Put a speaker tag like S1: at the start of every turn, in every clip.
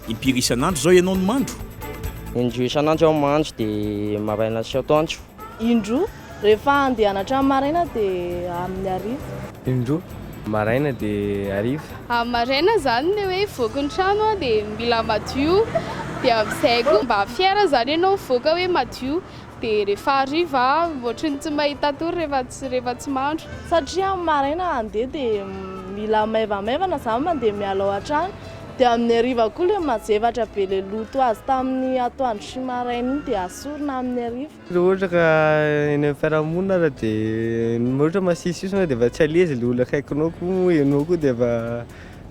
S1: Impiry isan'andro izao ianao no mandro? Indroa
S2: isan'andro aho mandro, dia maraina sy atoandro. Indroa,
S3: rehefa handeha hianatra amin'ny maraina dia amin'ny hariva. Indroa,
S4: maraina dia hariva. Amin'ny maraina izany
S5: ilay hoe hivoaka ny trano dia mila madio, dia amin'izay koa mba fier izany ianao hivoaka hoe madio. Dia rehefa hariva aho ohatry ny tsy mahita tory rehefa tsy rehefa tsy mandro. Satria amin'ny maraina
S3: handeha dia mila maivamaivana izany mandeha mialao hatrany dia amin'ny hariva koa ilay mazevatra be ilay loto azo tamin'ny atoandro sy maraina iny dia asorina amin'ny hariva. Raha ohatra ka
S4: eny amin'ny fiarahamonina ary dia ohatra masisisona ianao dia efa tsy à l'aise ilay olona akaikinao koa moa ianao koa dia efa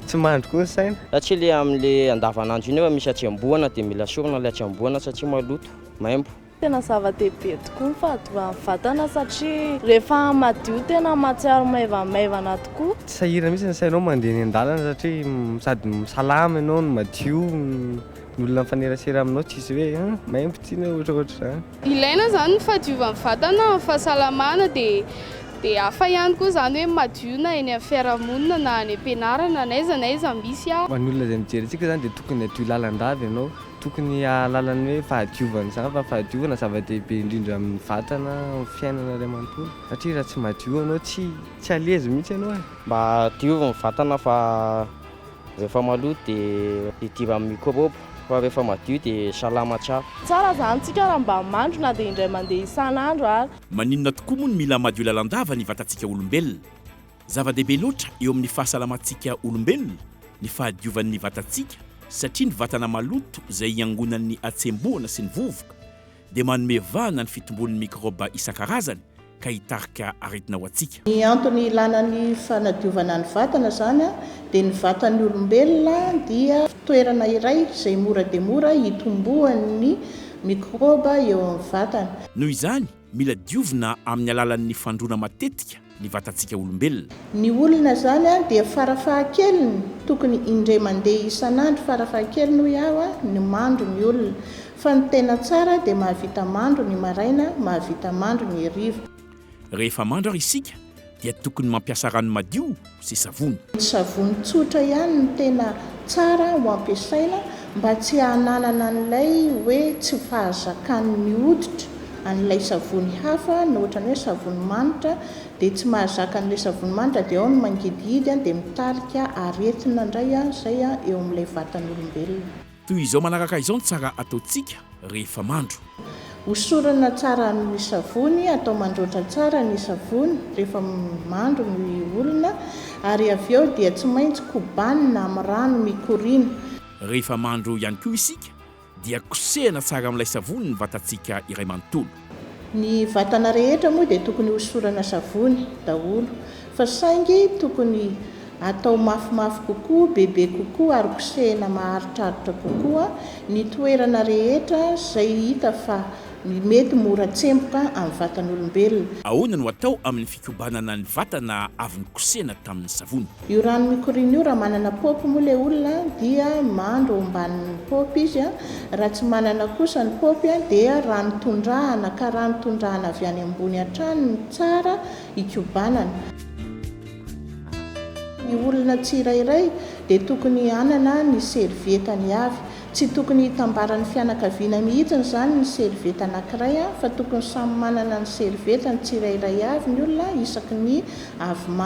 S4: tsy mandry koa ny saina. Satria ilay amin'ilay
S2: andavanandro iny efa misy hatsembohana dia mila asorina ilay hatsembohana satria maloto. maimbo. Tena zava-dehibe
S3: tokoa ny fahadiovan'ny vatana satria rehefa madio tena mahatsiaro maivamaivana tokoa. Tsy sahirana mihitsy ny sainao
S4: mandeha eny an-dalana satria sady salama ianao no madio, ny olona mifanerasera aminao tsisy hoe an, maimbo ity na ohatraohatr zany. Ilaina zany ny
S5: fahadiovan'ny vatana amin'ny fahasalamana dia dia hafa ihany koa zany hoe madio na eny amin'ny fiarahamonina na any am-pianarana na aiza na aiza misy aza. Ho an'ny olona izay mijery
S4: antsika
S5: zany
S4: dia tokony hadio lalandava ianao. Tokony hahalala ny hoe fahadiovana izany fa fahadiovana zava-dehibe indrindra amin'ny vatana, amin'ny fiainana iray manontolo satria raha tsy madio ianao tsy tsy à l'aise mihitsy ianao e! Mba diovy ny
S2: vatana fa rehefa maloto dia hidiran'ny mikrôba fa rehefa madio dia salama tsara. Tsara zany tsika
S3: raha mba mandro na dia indray mandeha isan'andro ary. Maninona tokoa moa no
S1: mila madio lalandava ny vatantsika olombelona? Zava-dehibe loatra eo amin'ny fahasalamantsika olombelona ny fahadiovan'ny vatantsika satria ny vatana maloto izay iangonan'ny hatsembohana sy ny vovoka dia manome vahana ny fitombon'ny mikraoba isan-karazany ka hitarika aretina ho antsika. Ny antony ilana
S6: ny fanadiovana ny vatana izany dia ny vatan'ny olombelona dia toerana iray izay mora dia mora hitomboan'ny mikraoba eo amin'ny vatana. Noho izany,
S1: Mila diovina amin'ny alalan'ny fandroana matetika ny vatantsika olombelona. Ny olona izany
S6: dia farafahakeliny tokony indray mandeha isan'andro farafahakeliny hoy aho ny mandro ny olona fa ny tena tsara dia mahavita mandro ny maraina mahavita mandro ny hariva. Rehefa mandro
S1: ary isika dia tokony mampiasa rano madio sy savony. Ny savony tsotra
S6: ihany no tena tsara ho ampiasaina mba tsy hananana an'ilay hoe tsy fahazakan'ny hoditra an'ilay savony hafa na ohatran'ny hoe savony manitra dia tsy mahazaka an'ilay savony manitra dia ao ny mangidihidy dia mitarika aretina indray izay eo amin'ilay vatan'olombelona. Toy izao manaraka
S1: izao ny tsara ataontsika rehefa mandro. Hosorana
S6: tsara amin ny savony, atao mandroatra tsara ny savony rehefa mandro ny olona ary avy eo dia tsy maintsy kobanina amin ny rano mikoriana. Rehefa mandro
S1: ihany koa isika dia kosehana tsara amin ilay savony ny vatantsika iray manontolo. Ny
S6: vatana rehetra moa dia tokony hosorana savony daholo fa saingy tokony atao mafimafy kokoa, bebe kokoa ary kosehina maharitraritra kokoa ny toerana rehetra izay hita fa mety mora tsemboka amin'ny vatan'olombelona. Ahoana no atao
S1: amin'ny fikobanana ny vatana avy nokosehina tamin'ny savony? Io rano mikoriana
S6: io raha manana paopy moa ilay olona dia mandro ao ambanin'ny paopy izy a, raha tsy manana kosa ny paopy a dia rano tondrahana ka rano tondrahana avy any ambony hatrany no tsara hikobanana. Ny olona tsirairay dia tokony hanana ny servietany avy, tsy tokony hitambaran'ny fianakaviana mihitsiny izany ny servieta anankiray a fa tokony samy manana ny servietany tsirairay avy ny olona isaky ny avy ma.